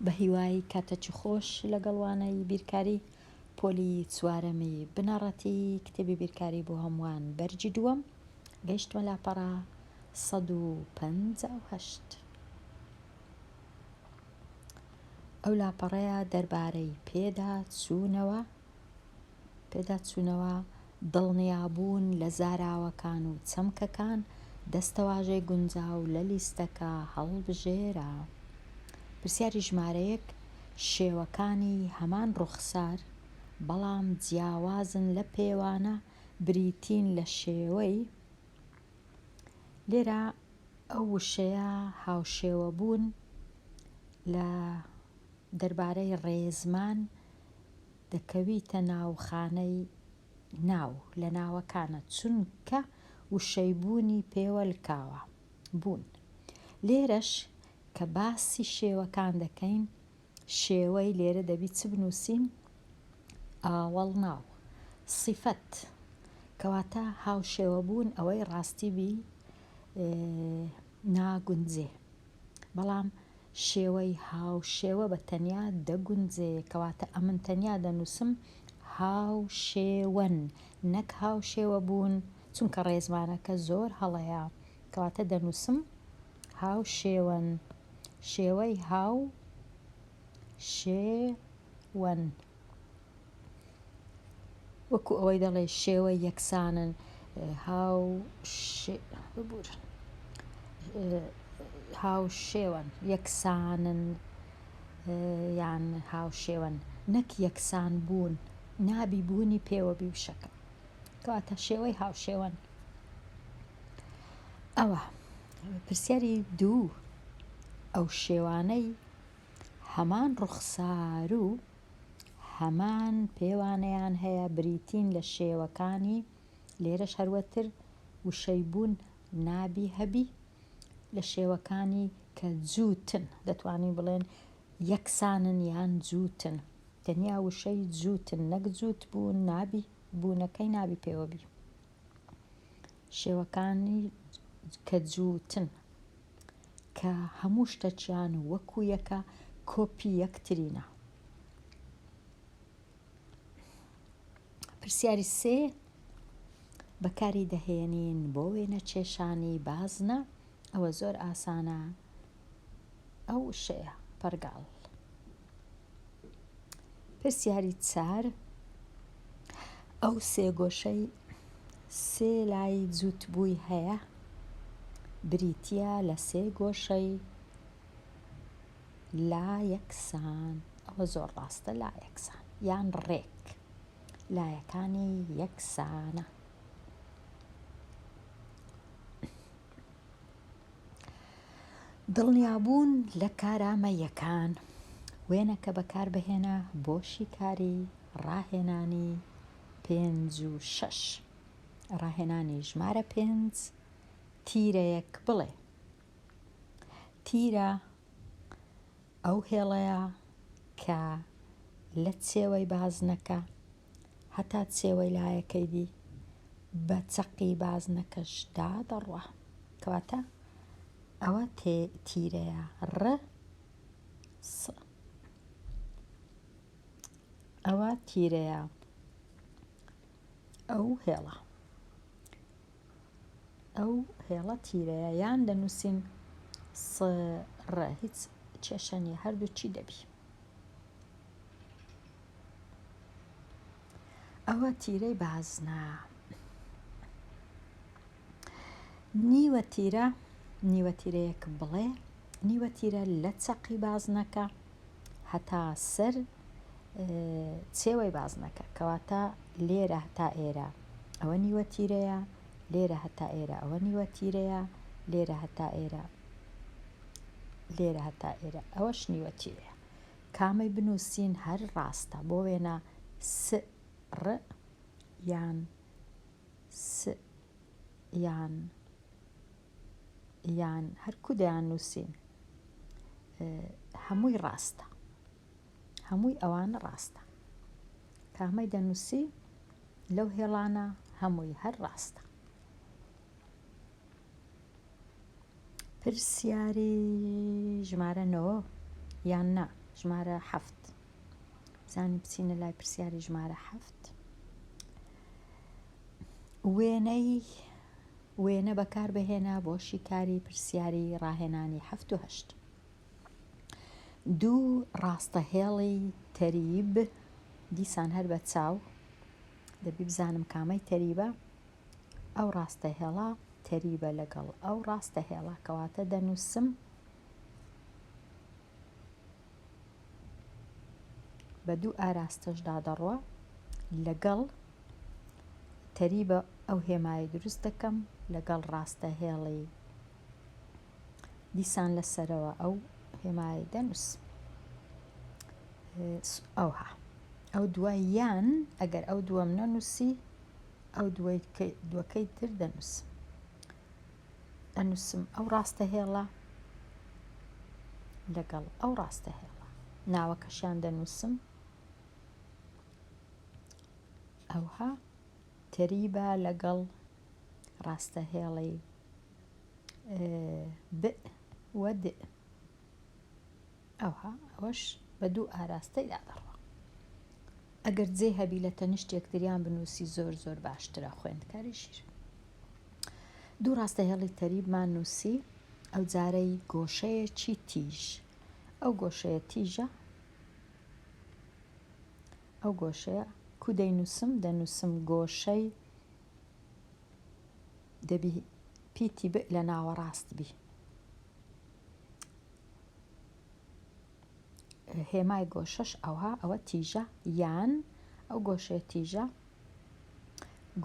بەهیوای کاتەچی خۆش لەگەڵ وانەی بیرکاری پۆلی چوارەمی بنەڕەتی کتێبی بیرکاری بۆ هەمووان بەرگی دووەم گەیشتمە لاپەڕە سەد و پەنجا و هەشت ئەو لاپەڕەیە دەربارەی پێدا چوونەوە پێداچوونەوە، دڵنیابوون لە زاراوەکان و چەمکەکان، دەستەواژەی گونجاو لە لیستەکە هەڵبژێرە. پرسیاری ژمارە یەک، شێوەکانی هەمان ڕووخسار، بەڵام جیاوازن لە پێوانە بریتین لە شێوەی، لێرە ئەو وشەیە هاوشێوەبوون لە دەربارەی ڕێزمان، دەکەویتە ناو خانەی ناو لە ناوەکانە چونکە وشەی بوونی پێوە لکاوە، بوون. لێرەش کە باسی شێوەکان دەکەین شێوەی لێرە دەبی چ بنووسین؟ ئاوەڵناو، سیفەت. کەواتە هاوشێوە بوون ئەوەی ڕاستی بی ناگونجێ. بەڵام شێوەی هاوشێوە بە تەنیا دەگونجێ، کەواتە ئەمن تەنیا دەنووسم هاوشێوەن نەک هاوشێوە بوون، چونکە ڕێزمانەکە زۆر هەڵەیە، کەواتە دەنووسم هاوشێوەن، شێوەی هاو شێ وەن. وەکو ئەوەی دەڵێ شێوە یەکسانن هاو ببورن هاوشێوەن یەکسانن یان هاوشێوەن نەک یەکسان بوون نابی بوونی پێوە بی وشەکە کەواتە شێوەی هاوشێوەن ئەوە پرسیاری دوو ئەو شێوانەی هەمان ڕوخسار و هەمان پێوانەیان هەیە بریتین لە شێوەکانی، لێرەش هەروەتر وشەی بوون نابی هەبی، لە شێوەکانی کە جووتن، دەتوانین بڵێن یەکسانن یان جووتن، تەنیا وشەی جووتن نەک جووتبوون نابی، بوونەکەی نابی پێوە بی. شێوەکانی کە جووتن کە هەموو شتەکیان وەکو یەکە کۆپی یەکترینە پرسیاری سێ بەکاری دەهێنین بۆ وێنە کێشانی بازنە ئەوە زۆر ئاسانە ئەو وشەیە، پەڕگاڵ. پرسیاری چار، ئەو سێگۆشەی سێ لای جووتبووی هەیە، بریتییە لە سێ گۆشەی لا یەکسان، ئەوە زۆر ڕاستە، لا یەکسان، یان ڕێک، لایەکانی یەکسانە. دڵنیابوون لە کارامە یەکان وێنەکە بەکاربهێنە بۆ شیکاری ڕاهێنانی پێنج و شەش ڕاهێنانی ژمارە پێنج تیرەیەک بڵێ تیرە ئەو هێڵەیە کە لە چێوەی بازنەکە هەتا چێوەی لایەکەی دی بە چەقی بازنەکەشدا دەڕوا. کەواتە ئەوە تیرەیە ڕ س ئەوە تیرەیە ئەو هێڵە ئەو هێڵە تیرەیە یان دەنووسین سڕە هیچ کێشەنی هەردوو چی دەبی ئەوە تیرەی بازنە. نیوە تیرە نیوە تیرەیەک بڵێ نیوە تیرە لە چەقی بازنەکە هەتا سەر چێوەی بازنەکە کەواتە لێرە هەتا ئێرە ئەوە نیوە تیرەیە لێرە هەتا ئێرە ئەوە نیوە تیرەیە لێرە هەتا ئێرە لێرە هەتا ئێرە ئەوەش نیوە تیرەیە کامەی بنووسین هەر ڕاستە بۆ وێنە س ڕ یان س یان یان هەر کو دەیان نووسین هەمووی ڕاستە هەمووی ئەوانە ڕاستە کامەی دەنووسی لەو هێڵانە هەمووی هەر ڕاستە. پرسیاری ژمارە نۆ یان نا ژمارە حەفت زانی بچینە لای پرسیاری ژمارە حەفت وێنەی وێنە بەکاربهێنا بۆ شیکاری پرسیاری ڕاهێنانی هەفت و هەشت دوو ڕاستەهێڵی تەریب دیسان هەر بە چاو دەبی بزانم کامەی تەریبە ئەو ڕاستە هێڵە تەریبە لەگەڵ ئەو ڕاستە هێڵە کەواتە دەنووسم بە دوو ئاراستەشدا دەڕوە لەگەڵ تەریبە ئەو هێمایە دروست دەکەم لەگەڵ ڕاستە هێڵی دیسان لەسەرەوە ئەو هێمای دەنووس ئەوها ئەو دوای یان ئەگەر ئەو دووەم نەنووسی ئەو دووەکەی تر دەنووسم. ئەنووسم ئەو ڕاستەهێڵە لەگەڵ ئەو ڕاستەهێڵە ناوەکەشیان دەنووسم ئەوها تەریبا لەگەڵ ڕاستەهێڵی بئ وە دئ ئەوا ئەوەش بە دوو ئاراستەیدا دەڕوا ئەگەر جێ هەبی لە تەنیشت یەکتریان بنووسی زۆر زۆر باشترە خوێندکاری ژیر دوو ڕاستە هێڵی تەریبمان نووسی ئەو جارەی گۆشەیەکی تیژ ئەو گۆشەیە تیژە ئەو گۆشەیە کو دەینووسم دەنووسم گۆشەی دەبی پیتی بئ لە ناوەڕاست بی هێمای گۆشەش ئەوها ئەوە تیژە یان ئەو گۆشەیە تیژە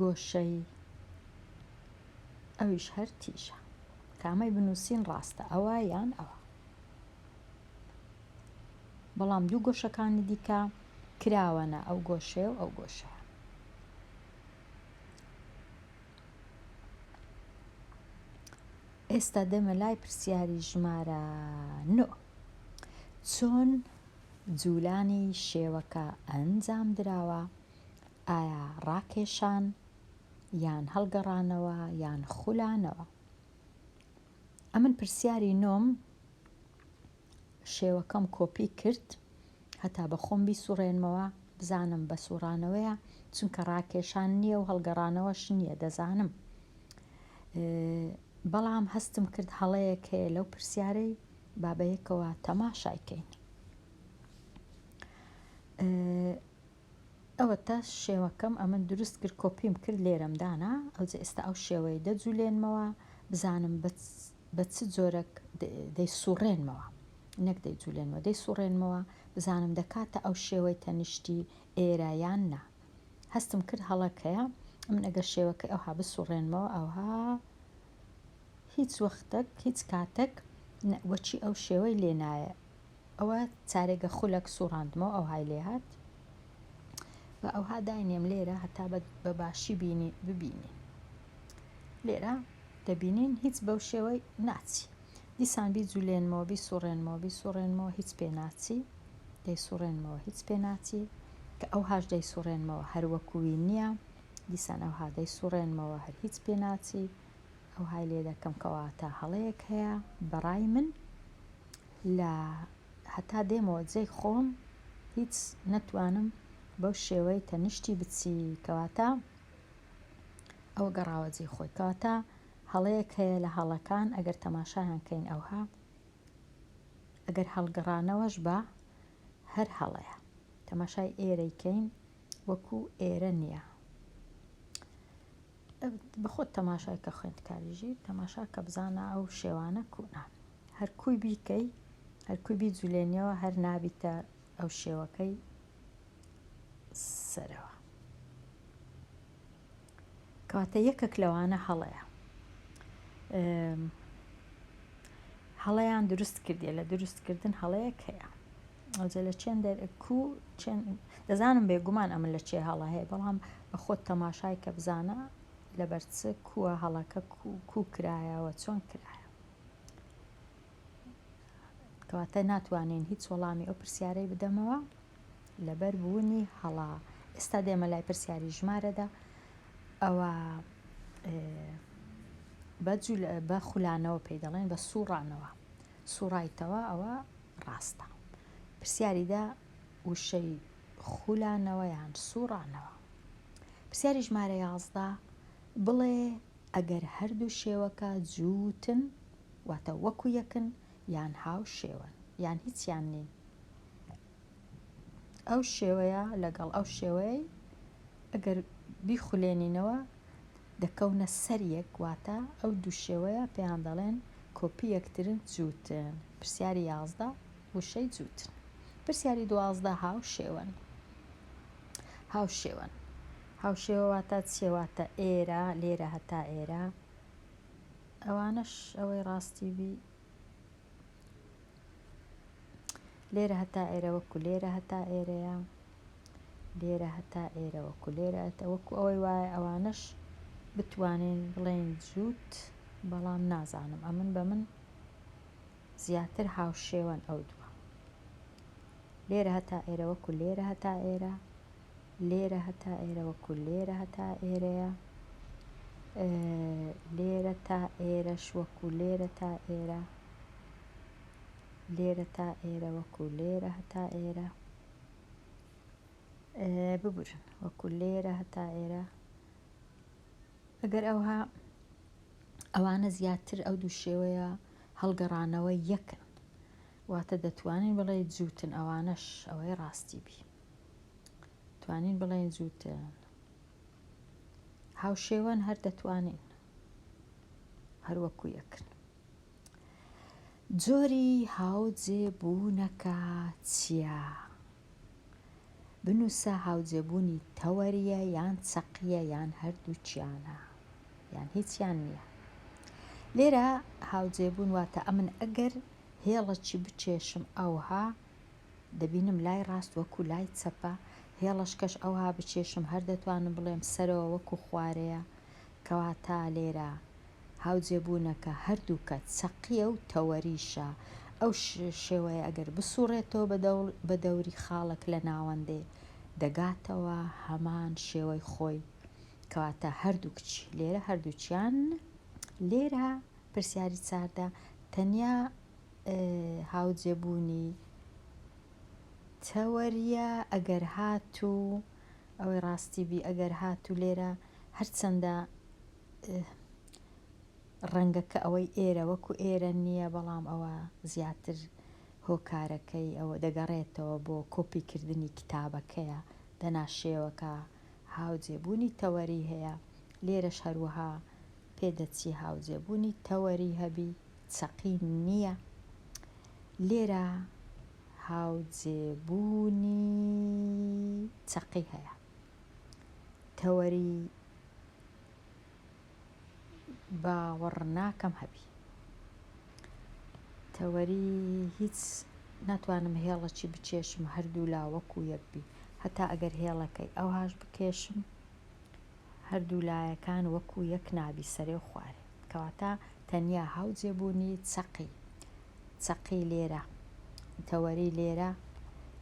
گۆشەی ئەویش هەر تیژە کامەی بنووسین ڕاستە ئەوە یان ئەوە بەڵام دوو گۆشەکانی دیکە کراوەە ئەو گۆشێ و ئەو گۆشە ئێستا دێمە لای پرسیاری ژمارە نۆ. چۆن جوولانی شێوەکە ئەنجام دراوە؟ ئایا ڕاکێشان یان هەڵگەڕانەوە یان خولانەوە؟ ئەمن پرسیاری نۆم شێوەکەم کۆپی کرد هەتا بە خۆم بیسوڕێنمەوە بزانم بە سوڕانەوەیە چونکە ڕاکێشان نییە و هەڵگەڕانەوەش نییە دەزانم بەڵام هەستم کرد هەڵەیەک هەیە لەو پرسیارەی بابەیەکەوە تەماشایکەین ئەوەتا شێوەکەم ئەمن دروست کرد کۆپیم کرد لێرەم دانا ئەوجە ئێستا ئەو شێوەیە دەجولێنمەوە بزانم بە چ جۆرەک دەیسوڕێنمەوە نەک دەیجولێنمەوە دەیسوڕێنمەوە بزانم دەکاتە ئەو شێوەی تەنیشتی ئێرە یان نا هەستم کرد هەڵەکەیە ئەمن ئەگەر شێوەکە ئەوها بسوڕێنمەوە ئەوها هیچ وەختەک هیچ کاتەک وەچی ئەو شێوەی لێنایە ئەوە چارێگە خولەک سوڕاندمەوە ئەوهای لێ هات بە ئەوها داینێم لێرە هەتا بە باشی بینی ببینی لێرە دەبینین هیچ بەو شێوەی ناچی دیسان بی جولێنمەوە بی سوڕێنمەوە بی سوڕێنمەوە هیچ پێ ناچی دەی سوڕێنمەوە هیچ پێ ناچی کە ئەو هاش دەی سوڕێنمەوە هەروەکووی نییە دیسان ئەو هادەی سوڕێنمەوە هەر هیچ پێ ناچی ئەو های لێ دەکەم کەواتە هەڵەیەک هەیە بەڕای من لە هەتا دێمەوە جێی خۆم هیچ نەتوانم بەو شێوەی تەنیشتی بچی کەواتە ئەو گەڕاوە جێی خۆی کەواتە هەڵەیەک هەیە لە هەڵەکان ئەگەر تەماشایان کەین ئەوها ئەگەر هەڵگەڕانەوەش بە هەر هەڵەیە تەماشای ئێرەی کەین وەکو ئێرە نییە بەخۆت تەماشای کە خوێندکاریژی تەماشا کە بزانە ئەو شێوانە کوونە هەر کوی بیکەی هەر کوی بیجولێنیەوە هەر نابیتە ئەو شێوەکەی سەرەوە کەواتە یەکەک لەوانە هەڵەیە هەڵەیان دروست کردێ لە دروستکردن هەڵەیەک هەیە ئەوجە لە چێن دەرکو چێن دەزانم بێگومان ئەمە لە چێ هەڵە هەیە بەڵام بە خۆت تەماشای کە بزانە لەبەرچ کووە هەڵەکە کوکرایەوە چۆن کرایە کەواتە ناتوانین هیچ وەڵامی ئەو پرسیارەی بدەمەوە لەبەر بوونی هەڵا ئێستا دێمە لای پرسیاری ژمارەدا ئەوە بەجول بە خولانەوە پێی دەڵێن بە سوڕانەوە سوڕایتەوە ئەوە ڕاستە پرسیاریدا وشەی خولانەوەیان سوڕانەوە پرسیاری ژمارە یازدە بڵێ ئەگەر هەردوو شێوەکە جووتن واتە وەکو یەکن یان هاوشێوەن یان هیچیان نین ئەو شێوەیە لەگەڵ ئەو شێوەیە ئەگەر بیخولێنینەوە دەکەونە سەر یەک واتە ئەو دوو شێوەیە پێیان دەڵێن کۆپی یەکترن جووتن پرسیاری یازدە وشەی جووتن. پرسیاری دوازدە هاوشێوەن هاوشێوەن هاوشێوە واتا چییە؟ واتا ئێرە، لێرە، هەتا ئێرە ئەوانەش ئەوەی ڕاستی بی لێرە هەتا ئێرە وەکو لێرە هەتا ئێرەیە لێرە هەتا ئێرە وەکو لێرە ئەتە وەکو ئەوەی وایە ئەوانەش بتوانین بڵێین جووت بەڵام نازانم ئەمن بە من زیاتر هاوشێوەن ئەو دووە. لێرە هەتا ئێرە وەکو لێرە هەتا ئێرە، لێرە هەتا ئێرە وەکو لێرە هەتا ئێرەیە، لێرە تا ئێرەش وەکو لێرە تا ئێرە، لێرە تا ئێرە وەکو لێرە هەتا ئێرە. ببورن وەکو لێرە هەتا ئێرە. ئەگەر ئەوها ئەوانە زیاتر ئەو دوو شێوەیە. هەڵگەڕانەوە یەکن واتە دەتوانین بڵێین جووتن ئەوانەش ئەوەی ڕاستی بی توانین بڵێین جووتن هاوشێوەن هەر دەتوانین هەروەکو یەکن جۆری هاوجێ بوونەکە چییە؟ بنووسە هاوجێبوونی تەوەریە یان چەقیە یان هەردووچیانە. یان هیچیان نییە. لێرە هاوجێبوون واتە ئەمن ئەگەر هێڵەکی بکێشم ئەوها دەبینم لای ڕاست وەکو لای چەپە، هێڵەشکەش ئەوها بکێشم هەر دەتوانم بڵێم سەرەوە وەکو خوارەیە، کەواتە لێرە هاوجێبوونەکە هەردووکە چەقییە و تەوەریشە، ئەو شێوەیە ئەگەر بسووڕێتەوە بە دەوری خاڵەک لە ناوەندێ، دەگاتەوە هەمان شێوەی خۆی، کەواتە هەردوو کچ لێرە هەردووکیان لێرە پرسیاری چاردە تەنیا هاوجێبوونی تەوەریە ئەگەر هاتوو ئەوەی ڕاستی بی ئەگەر هاتوو لێرە هەرچەندە ڕەنگەکە ئەوەی ئێرە وەکو ئێرە نییە بەڵام ئەوە زیاتر هۆکارەکەی ئەوە دەگەڕێتەوە بۆ کۆپیکردنی کتابەکەیە دەناشێوەکە هاوجێبوونی تەوەری هەیە، لێرەش هەروەها پێدەچی هاوجێبوونی تەوەری هەبی، چەقی نییە. لێرە هاوجێبوونی چەقی هەیە. تەوەری. باوەڕناکەم هەبی. تەوەری هیچ ناتوانم هێڵەکی بکێشم هەردوولا وەکو یەک بی هەتا ئەگەر هێڵەکەی ئەوهاش بکێشم هەردوو لایەکان وەکو یەک نابی سەرێ و خوارێ کەواتە تەنیا هاوجێ بوونی چەقی چەقی لێرە تەوەری لێرە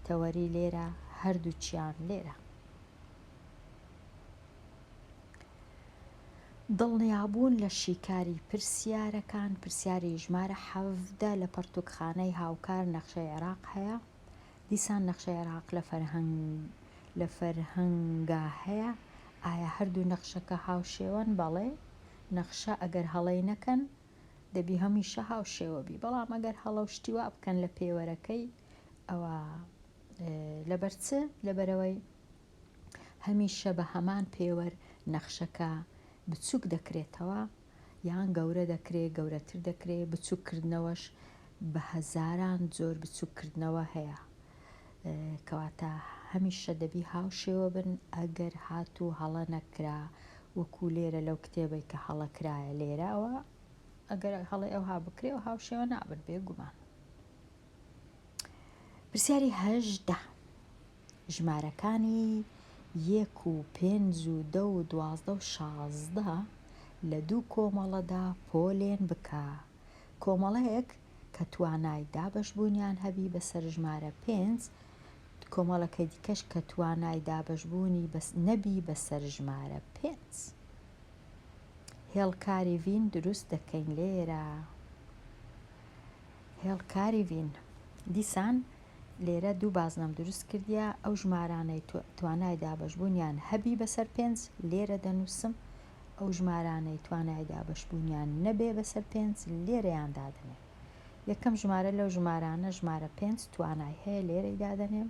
تەوەری لێرە هەردووکیان لێرە. دڵنیابوون لە شیکاری پرسیارەکان، پرسیاری ژمارە حەڤدە لە پەڕتووکخانەی هاوکار نەخشەی عێراق هەیە، دیسان نەخشەی عێراق لە فەرهەنگا هەیە، ئایا هەردوو نەخشەکە هاوشێوەن؟ بەڵێ، نەخشە ئەگەر هەڵەی نەکەن دەبی هەمیشە هاوشێوە بی، بەڵام ئەگەر هەڵە و شتی وا بکەن لە پێوەرەکەی ئەوا لەبەر چ؟ لەبەرئەوەی هەمیشە بە هەمان پێوەر نەخشەکە بچووک دەکرێتەوە یان گەورە دەکرێت، گەورەتر دەکرێت، بچووککردنەوەش بە هەزاران جۆر بچووککردنەوە هەیە. کەواتە هەمیشە دەبی هاوشێوە بن ئەگەر هاتوو هەڵە نەکرا وەکو لێرە لەو کتێبەی کە هەڵە کرایە لێراوە ئەگەر هەڵی ئەوها بکرێ و هاوشێوە نابن بێ گومان. پرسیاری هەژدە. ژمارەکانی یەک و پێنج و دە و دوازدە و شازدە لە دوو کۆمەڵەدا پۆلێن بکە. کۆمەڵەیەک کە توانای دابەشبوونیان هەبی بەسەر ژمارە پێنج، کۆمەڵەکەی دیکەش کە توانای دابەشبوونی نەبی بەسەر ژمارە پێنج. هێڵکاری ڤین دروست دەکەین لێرە. هێڵکاری ڤین دیسان لێرە دوو بازنەم دروست کردیە ئەو ژمارانەی تۆ توانای دابەش بوونیان هەبی بەسەر پێنج لێرە دەنووسم ئەو ژمارانەی توانای دابەش بوونیان نەبێ بەسەر پێنج لێرەیان دادەنێم یەکەم ژمارە لەو ژمارانە ژمارە پێنج توانای هەیە لێرەی دادەنێم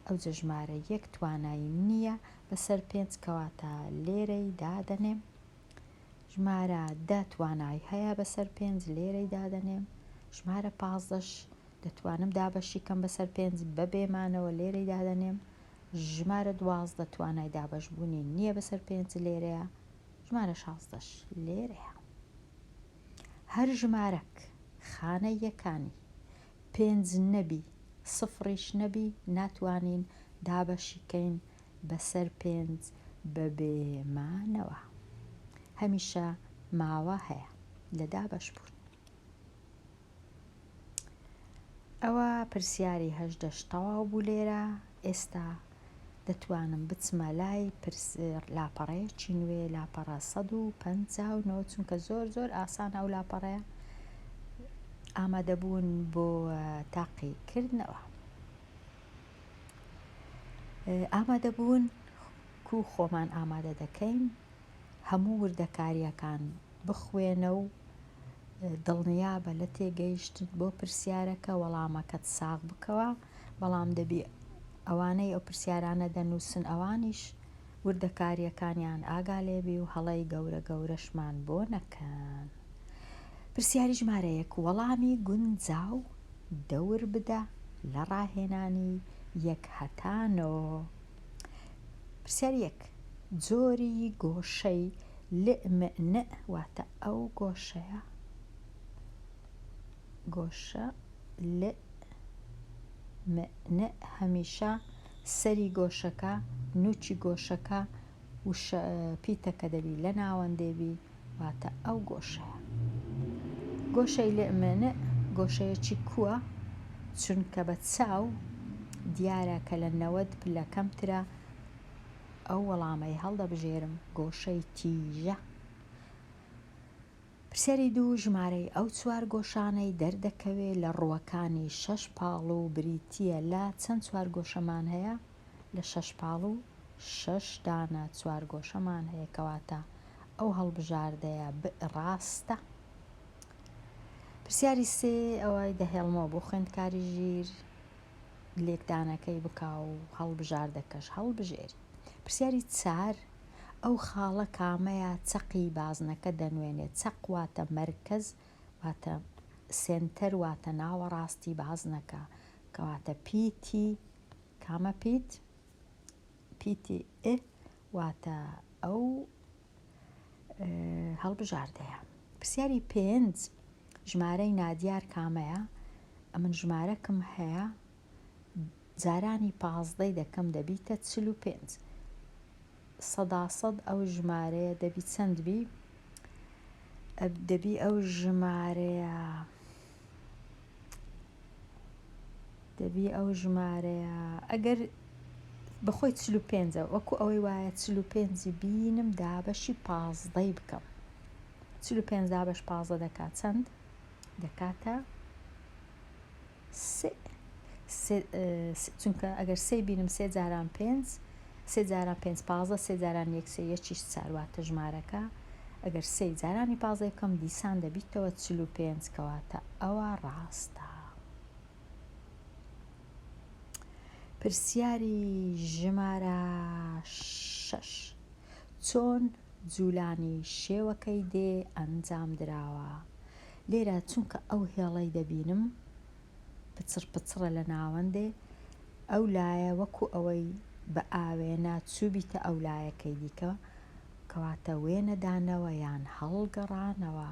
ئەوجە ژمارە یەک توانای نییە بەسەر پێنج کەواتە لێرەی دادەنێم ژمارە دە توانای هەیە بەسەر پێنج لێرەی دادەنێم ژمارە پازدەش دەتوانم دابەشی کەم بەسەر پێنج بەبێ مانەوە لێرەی دادەنێم ژمارە دوازدە توانای دابەش بوونی نییە بەسەر پێنج لێرەیە ژمارە شازدەش لێرەیە هەر ژمارەک خانە یەکانی پێنج نەبی سفڕیش نەبی ناتوانین دابەشی کەین بەسەر پێنج بەبێ مانەوە هەمیشە ماوە هەیە لە دابەش بوون ئەوە پرسیاری هەشدەش تەواو بوو لێرە ئێستا دەتوانم بچمە لای لاپەڕەیەکی نوێ لاپەڕە 159 چونکە زۆر زۆر ئاسان ئەو لاپەڕەیە ئامادەبوون بۆ تاقیکردنەوە ئامادەبوون کو خۆمان ئامادە دەکەین هەموو وردەکارییەکان بخوێنە و دڵنیابە لە تێگەیشتن بۆ پرسیارەکە وەڵامەکەت ساغ بکەوە بەڵام دەبی ئەوانەی ئەو پرسیارانە دەنووسن ئەوانیش وردەکاریەکانیان ئاگا لێبی و هەڵەی گەورە گەورەشمان بۆ نەکەن پرسیاری ژمارە یەک وەڵامی گونجاو دەور بدە لە ڕاهێنانی یەک هەتا نۆ پرسیاری یەک جۆری گۆشەی لئم نئ واتە ئەو گۆشەیە گۆشە لئ مئ نئ هەمیشە سەری گۆشەکە، نووکی گۆشەکە و پیتەکە دەبی لە ناوەندێ بی، واتە ئەو گۆشەیە. گۆشەی لئمئنئ گۆشەیەکی کووە، چونکە بە چاو دیارە کە لە نەوەد پلە کەمترە، ئەو وەڵامەی هەڵدەبژێرم گۆشەی تیژە. پرسیاری دوو، ژمارەی ئەو چوار گۆشانەی دەردەکەوێ لە ڕووەکانی شەش پاڵوو بریتییە لە چەند چوار گۆشەمان هەیە؟ لە شەش پاڵوو شەش دانە چوار گۆشەمان هەیە، کەواتە ئەو هەڵبژاردەیە بئ ڕاستە. پرسیاری سێ، ئەوەی دەهێڵمەوە بۆ خوێندکاری ژیر لێکدانەکەی بکا و هەڵبژاردەکەش هەڵبژێری. پرسیاری چار، ئەو خاڵە کامەیە چەقی بازنەکە دەنوێنێت، چەق واتە مەرکەز واتە سێنتەر واتە ناوەڕاستی بازنەکە کەواتە پیتی کامە پیت پیتی ئئ واتە ئەو هەڵبژاردەیە پرسیاری پێنج ژمارەی نادیار کامەیە ئەمن ژمارەکم هەیە جارانی پازدەی دەکەم دەبیتە چل و پێنج سەدا سەد ئەو ژمارەیە دەبی چەند بی دەبی ئەو ژمارەیە دەبی ئەو ژمارەیە ئەگەر بەخۆی چل و پێنجە وەکو ئەوەی وایە چل و پێنجی بینم دابەشی پازدەی بکەم چل و پێنج دابش پازدە دەکات چەند دەکاتە چونکە ئەگەر سێی بینم سێ جاران پێنج سێ جاران پێنج پازدە سێ جاران یەک سێ یەکیش چار واتە ژمارەکە ئەگەر سێی جارانی پازدەی بکەم دیسان دەبیتەوە چل و پێنج کەواتە ئەوە ڕاستە پرسیاری ژمارە شەش چۆن جولانی شێوەکەی دێ ئەنجام دراوە؟ لێرە چونکە ئەو هێڵەی دەبینم پچڕ پچڕە لە ناوەندێ ئەو لایە وەکو ئەوەی بە ئاوێنە چووبیتە ئەو لایەکەی دیکە کەواتە وێنە دانەوە یان هەڵگەڕانەوە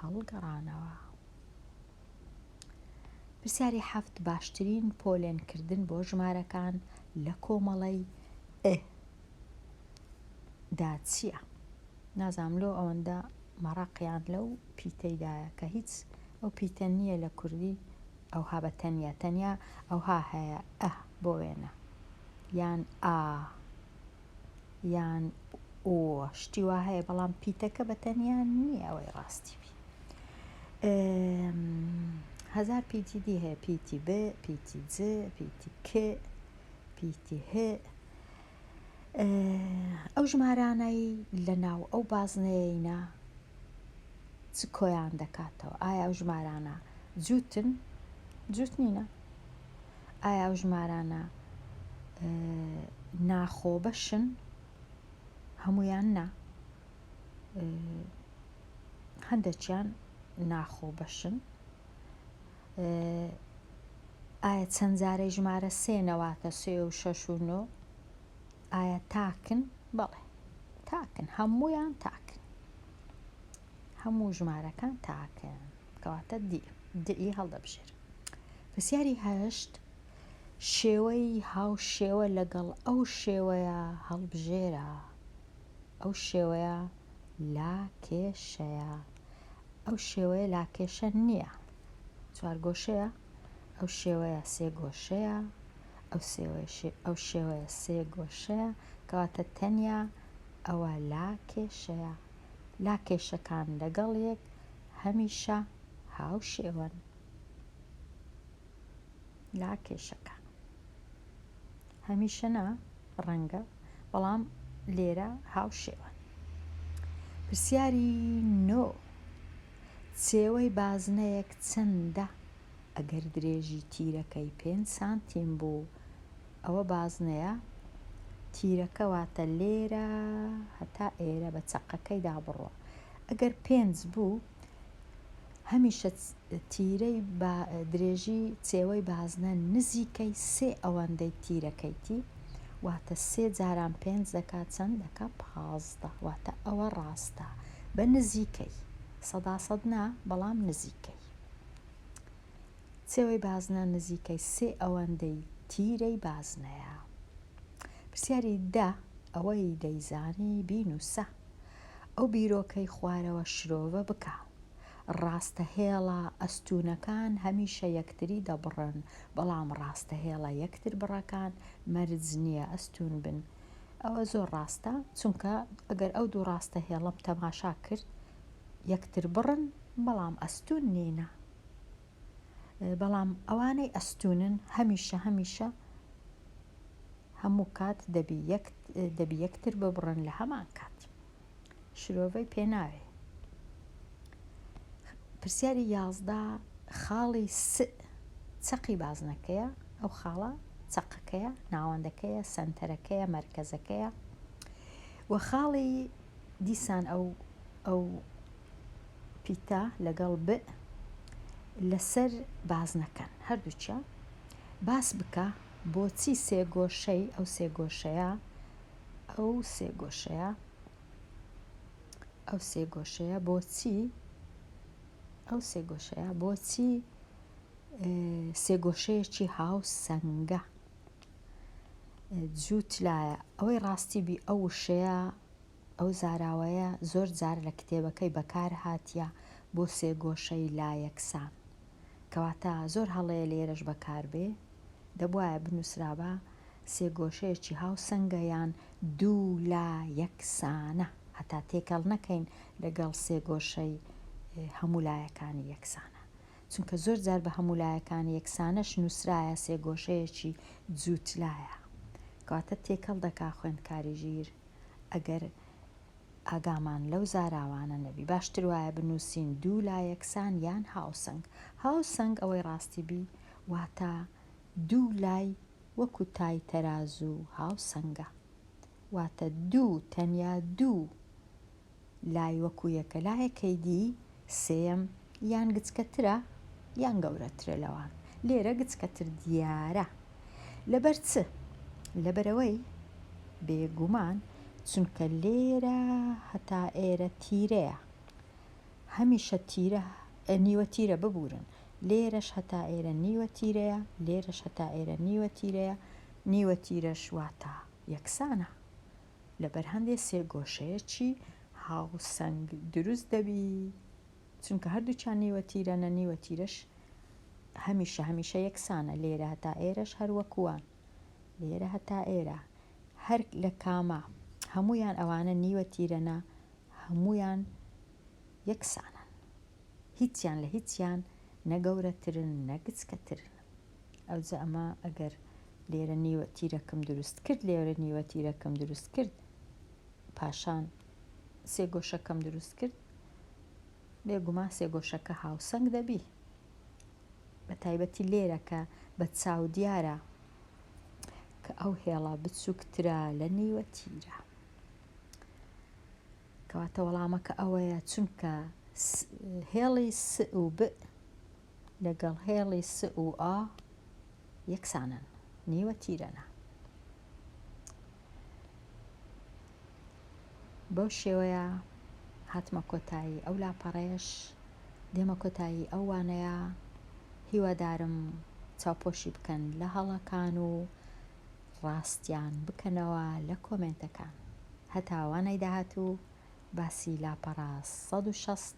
هەڵگەڕانەوە پرسیاری حەفت باشترین پۆلێنکردن بۆ ژمارەکان لە کۆمەڵەی ئه دا چییە؟ نازام لۆ ئەوەندە مەڕاقیان لەو پیتەیدایە کە هیچ ئەو پیتە نییە لە کوردی ئەوها بە تەنیا تەنیا ئەوها هەیە، ئە، بۆ وێنە، یان ئا، یان ئۆ، شتی وا هەیە، بەڵام پیتەکە بە تەنیا نییە ئەوەی ڕاستی بی. ئێ، هەزار پیتی دی هەیە، پیتی ب، پیتی ج، پیتی ک، پیتی ه. ئەو ژمارانەی لە ناو ئەو بازنەیەینە چ کۆیان دەکاتەوە ئایا ئەو ژمارانە جووتن جووت نینە ئایا ئەو ژمارانە ناخۆ بەشن هەمویان نا هەندێکیان ناخۆ بەشن ئایا چەند جارەی ژمارە سێ نەواتە سێ و شەش و نۆ ئایا تاکن بەڵێ تاکن هەموویان تاکن هەموو ژمارەکان تاکن کەواتە دی دئی هەڵدەبژێر پرسیاری هەشت شێوەی هاو شێوە لەگەڵ ئەو شێوەیە هەڵبژێرە ئەو شێوەیە لا کێشەیە ئەو شێوەیە لاکێشە نییە چوارگۆشەیە ئەو شێوەیە سێ گۆشەیە ئەو ئەو شێوەیە سێ گۆشەیە کەواتە تەنیا ئەوە لا کێشەیە لا کێشەکان لەگەڵ یەک هەمیشە هاو شێوەن لا کێشەکە هەمیشە نا ڕەنگە بەڵام لێرە هاوشێوەن پرسیاری نۆ چێوەی بازنەیەک چەندە ئەگەر درێژی تیرەکەی پێ سانتیم بوو ئەوە بازنەیە تیرەکەواتە لێرە هەتا ئێرە بە چەقەکەیدا بڕۆ ئەگەر پێنج بوو هەمیشە تیرەی با درێژی چێوەی بازنە نزیکەی سێ ئەوەندەی تیرەکەیتی واتە سێ جاران پێنج دەکات چەند دەکات پازدە واتە ئەوە ڕاستە بە نزیکەی سەدا سەد نا بەڵام نزیکەی چێوەی بازنە نزیکەی سێ ئەوەندەی تیرەی بازنەیە پرسیاری دە ئەوەی دەیزانی بینوسە ئەو بیرۆکەی خوارەوە شرۆڤە بکە، ڕاستە هێڵە ئەستوونەکان هەمیشە یەکتری دەبڕن، بەڵام ڕاستە هێڵە یەکتر بڕەکان مەرج نییە ئەستوون بن. ئەوە زۆر ڕاستە، چونکە ئەگەر ئەو دوو ڕاستە هێڵەم تەماشا کرد یەکتر بڕن، بەڵام ئەستوون نینە. بەڵام ئەوانەی ئەستونن هەمیشە هەمیشە هەموو کات دەبی یەکتر ببڕن لە هەمان کات شرۆڤەی پێناوێ پرسیاری یازدا خاڵی س چەقی بازنەکەیە ئەو خاڵە چەقەکەیە ناوەندەکەیە سنتەرەکەیە مەرکەزەکەیە وە خاڵی دیسان ئەو ئەو پیتە لەگەڵ بئ لەسەر بازنە کەن هەردووکیان باس بکە بۆچی سێ گۆشەی ئەو سێ گۆشەیە ئەو سێ گۆشەیە ئەو سێ گۆشەیە بۆچی ئەو سێ گۆشەیە بۆچی سێ گۆشەیەکی هاوسەنگە جوو تلایە ئەوەی ڕاستی بی ئەو وشەیە ئەو زاراوەیە زۆر جار لە کتێبەکەی بەکار هاتیە بۆ سێگۆشەی لایەکسان کەواتە زۆر هەڵەیە لێرەش بەکار بێ دەبوایە بنوسرابا سێگۆشەیەکی هاوسەنگە یان دوو لا یەک سانە هەتا تێکەڵ نەکەین لەگەڵ سێگۆشەی هەموو لایەکانی یەکسانە. چونکە زۆر جار بە هەموو لایەکان یەکسانەش نووسرایە سێگۆشەیەکی جووتلایە کەواتە تێکەڵ دەکا خوێندکاری ژیر ئەگەر ئاگامان لەو زاراوانە نەبی باشتر وایە بنووسین دوو لا یەکسان یان هاوسەنگ هاوسەنگ ئەوەی ڕاستی بی واتە دوو لای وەکو تای تەرازوو هاوسەنگە واتە دوو تەنیا دوو لای وەکو یەکە لایەکەی دی سێیەم یان گچکەترە یان گەورەترە لەوان لێرە گچکەتر دیارە لەبەر چ لەبەرەوەی بێگومان چونکە لێرە هەتا ئێرە تیرەیە هەمیشە تیرە نیوە تیرە ببورن لێرەش هەتا ئێرە نیوە تیرەیە لێرەش هەتا ئێرە نیوە تیرەیە نیوە تیرەش واتە یەکسانە لە بەر هەندێ سێگۆشەیەکی هاوسەنگ دروست دەبی چونکە هەردووچان نیوە تیرەنە نیوە تیرەش هەمیشە هەمیشە یەکسانە لێرە هەتا ئێرەش هەروەکووان لێرە هەتا ئێرە هەر لە کامە هەمویان ئەوانە نیوە تیرەنە هەمویان یەکسانن هیچیان لە هیچیان نە گەورەترن نە گچکەترن ئەوجا ئەمە ئەگەر لێرە نیوە تیرەکم دروست کرد، لێرە نیوە تیرەکم دروست کرد، پاشان سێ گۆشەکەم دروست کرد، بێگومان سێ گۆشەکە هاوسەنگ دەبی. بە تایبەتی لێرە کە بە چاو دیارە کە ئەو هێڵە بچووکترە لە نیوە تیرە. کەواتە وەڵامەکە ئەوەیە چونکە هێڵی س و ب لەگەڵ هێڵی س و ئا یەکسانن، نیوە تیرەنە. بەو شێوەیە هاتمە کۆتایی ئەو لاپەڕەیەش، دێمە کۆتایی ئەو وانەیە، هیوادارم چاوپۆشی بکەن لە هەڵەکان و ڕاستیان بکەنەوە لە کۆمێنتەکان. هەتا وانەی داهاتوو باسی لاپەڕە سەد و شەست